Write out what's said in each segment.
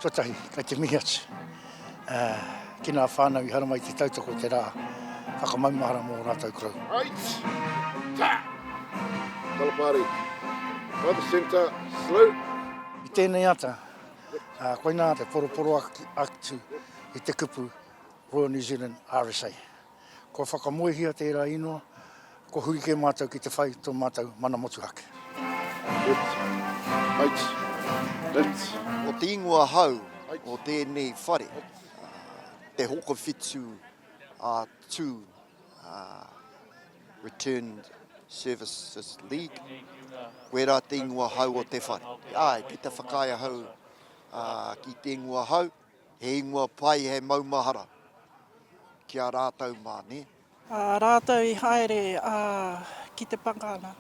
Tuatahi, kei te mihi atu ki ngā whānau i haramai te tautoko te rā whakamaumahara mō ō rātou korou. Right! Ta! Kalapāri. By the centre, slow. I tēnei ata, koinā te poroporoaki atu i te kupu Royal New Zealand RSA. Kua whakamoehia tērā ingoa, kua huri kē mātou ki te whai tō mātou mana motuhake. Left, right, left. Ko te ingoa hau o tēnei whare, Te Hokowhitu a Tū, Returned Services League. Koe rā te ingoa hau o te whare. Āe, ki te whakaae ahau ki te ingoa hau. He ingoa pai hei maumahara ki a rātou mā, nē? Ā rātou i haere ki te pakanga,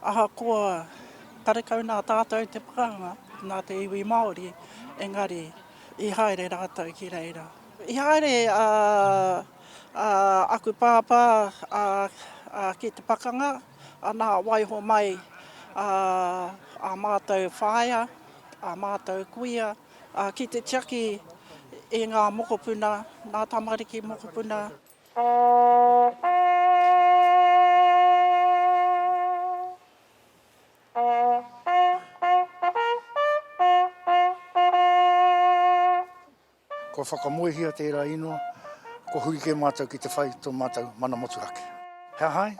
ahakoa karekau nā tātou te pakanga, nā te iwi Māori, engari i haere rātou ki reira. I haere aku pāpā ki te pakanga, ana, waiho mai ā mātou whaea, ā mātou kuia. Ā, ki te tiaki i ngā mokopuna, ngā tamariki mokopuna. Kua whakamoehia tērā ingoa, kua huri kē mātou ki te whai tō mātou mana motuhake. He aha ai?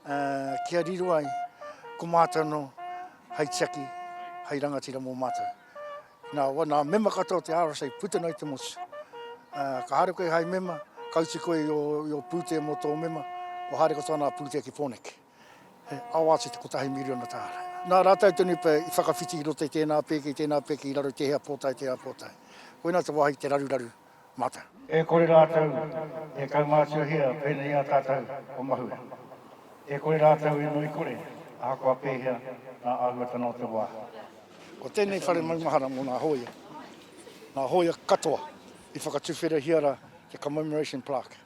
Ā, kia riro ai, ko mātou anō hei tiaki, hei rangatira mō mātou. Nā, wāna mema katoa o te RSA puta noa i te motu. Ka haere koe hai mema, ka uti koe i ō pūtea mō tō mema, kua haere katoa nā pūtea ki Pōneke. He awa atu te kotahi miriona tāra. Nā rātau tonu pea i whakawhiti i roto i tēnā pēke, i tēnā pēke i raro i te hea pōtae, te hea pōtae. Koinā te wāhi te raruraru Mata. E kore rātou e kaumātuahia pēnei i a tātou o mahue. E kore rātou e ngoikore ahakoa pēhea ngā āhuatanga o te wā. Ko tēnei whare maumahara mō ngā hōia, ngā hōia katoa i whakatuwherehia rā te Commemoration Plaque,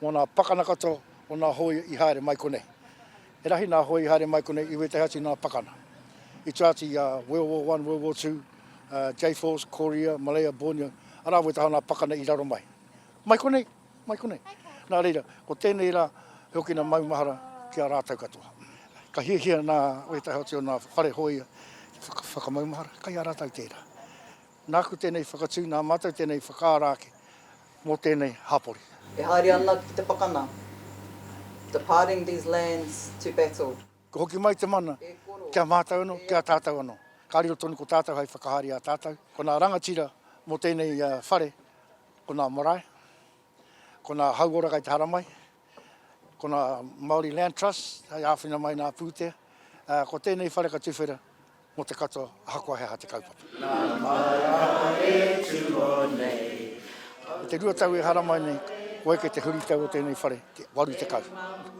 mō ngā pakana katoa o ngā hōia i haere mai konei. He rahi nā Hoi i haere mai konei i wētahi atu nā Pakana. I tua atu i a World War One, World War Two, Jayforce, Korea, Malaya, Borneo, arā wētahi o nā Pakana i raro mai. Mai konei, mai konei. Nā reira, ko tēnei rā, he okina maumahara ki a rātou katoa. Ka hiahia nā wētahi atu o nā whare hōia ki te whakamaumahara, kai a rātou tērā. Nāku tēnei whakatū, nā mātou tēnei whakaara ake mō tēnei hapori. E haere ana ki te pakana. Departing these lands to battle. Kua hoki mai te mana, ki a mātou anō, ki a tātou anō. Ka riro tonu ko tātou hai whakahaere i a tātou. Ko nā rangatira mō tēnei whare, ko nā marae, ko nā hauora kai te haramai. Ko nā Māori Land Trust hei āwhina mai nā pūtea, ā, ko tēnei whare ka tuwhera mō te katoa ahakoa he aha te kaupapa. Nā Māra e tūo nei. I te rua tau e haramai nei, kua eke te huritau o tēnei whare, te 80.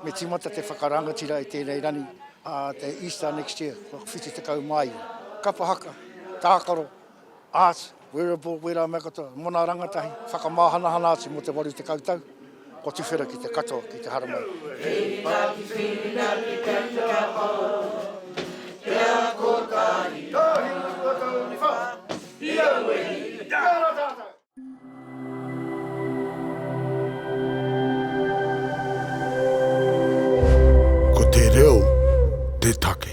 Me tīmata te whakarangatira i tēnei rani, ā, te Easter next year, kua 79. Kapa haka, tākaro. Arts, Wearable, Wera mea katoa, mona rangatahi, whakamāhanahana atu mō te waru tekau tau, kua tuwhera ki te katoa, ki te haramai. Hei tā te Whiringa ki te Rangahau, He aha kotahi ngā hua tauiwā i auahi i te ara tātou? Ko te reo te take.